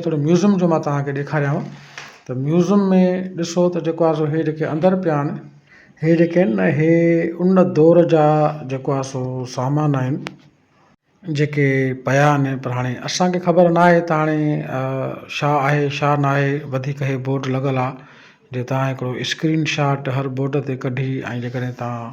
ٿورو ميوزم جو مان توهان کي ڏيکاريانو ته ميوزم ۾ ڏسو ته جيڪو آهي سو هي جيڪي اندر پيا آهن هي جيڪي آهن نه هي ان دور جا جيڪو آهي سو سامان آهن جيڪي پيا آهن پر هاڻي اسانکي خبر نه آهي ته هاڻي شا آهي شا نه آهي وڌيڪ هي بورڊ لڳل آهي جي توهان هڪڙو اسڪرين شاٽ هر بورڊ تي ڪڍي ۽ جي ڪڏهن توهان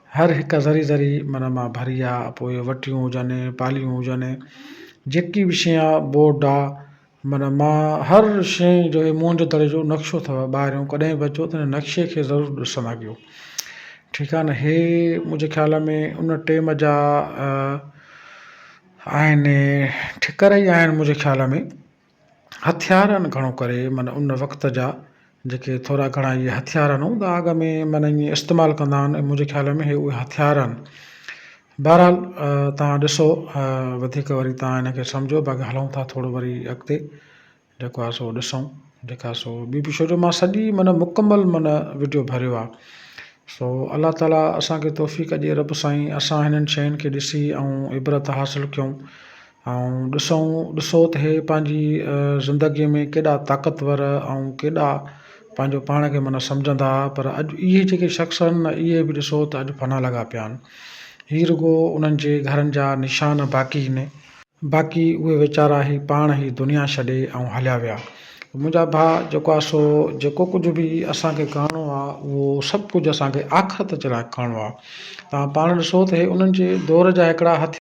هر هڪ ذري ذري من مان ڀري آ، پوء وٽيون هجن، پاليون هجن، جيڪي به شين آ، بورڊ آ، من مان هر شين جو هي موهن جو دڙي جو نقشو اٿو ٻاهريون ڪڏهن به اچو ته هن نقشي کي ضرور ڏسن اڳيو ٺيڪ آ نه هي منهنجي خيال ۾ ان ٽيم جا آهن ٺڪر ئي آهن منهنجي خيال ۾ هٿيارن گهڻو ڪري معنيٰ ان وقت جا جيڪي ٿورا گهڻا اهي هٿيار آهن هوندا اڳ ۾ معنيٰ ائين استعمال ڪندا آهن ۽ منهنجي خيال ۾ اهي هٿيار آهن بهرحال توهان ڏسو وڌيڪ وري توهان ان کي سمجهو باقي هلون ٿا ٿورو وري اڳتي جيڪو آهي سو ڏسون جيڪا آهي سو ٻي به شروع مان سڄي معنيٰ مڪمل معنيٰ وڊيو ڀريو آهي سو الله تعاليٰ اسان کي توفيق ڏي رب سائين اسان هنن شين کي ڏسي ۽ عبرت حاصل ڪيون ائين ڏسون ڏسو ته هي پنهنجي زندگيء ۾ ڪيڏا طاقتور ۽ ڪيڏا پنهنجو پاڻ کي معنيٰ سمجهندا هئا پر اڄ اهي جيڪي شخص آهن نه اهي به ڏسو ته اڄ فنا لڳا پيا آهن. هي رڳو انهن جي گهرن جا نشان باقي هن. باقي اهي ويچارا هي پاڻ هي دنيا ڇڏي ۽ هليا ويا. منهنجا ڀاء جيڪو آهي سو جيڪو ڪجهه به اسان کي ڪرڻو آهي اهو سڀ ڪجهه اسان کي آخرت جي لاء ڪرڻو آهي. توهان پاڻ ڏسو ته هي انهن جي دور جا هڪڙا هٿيار.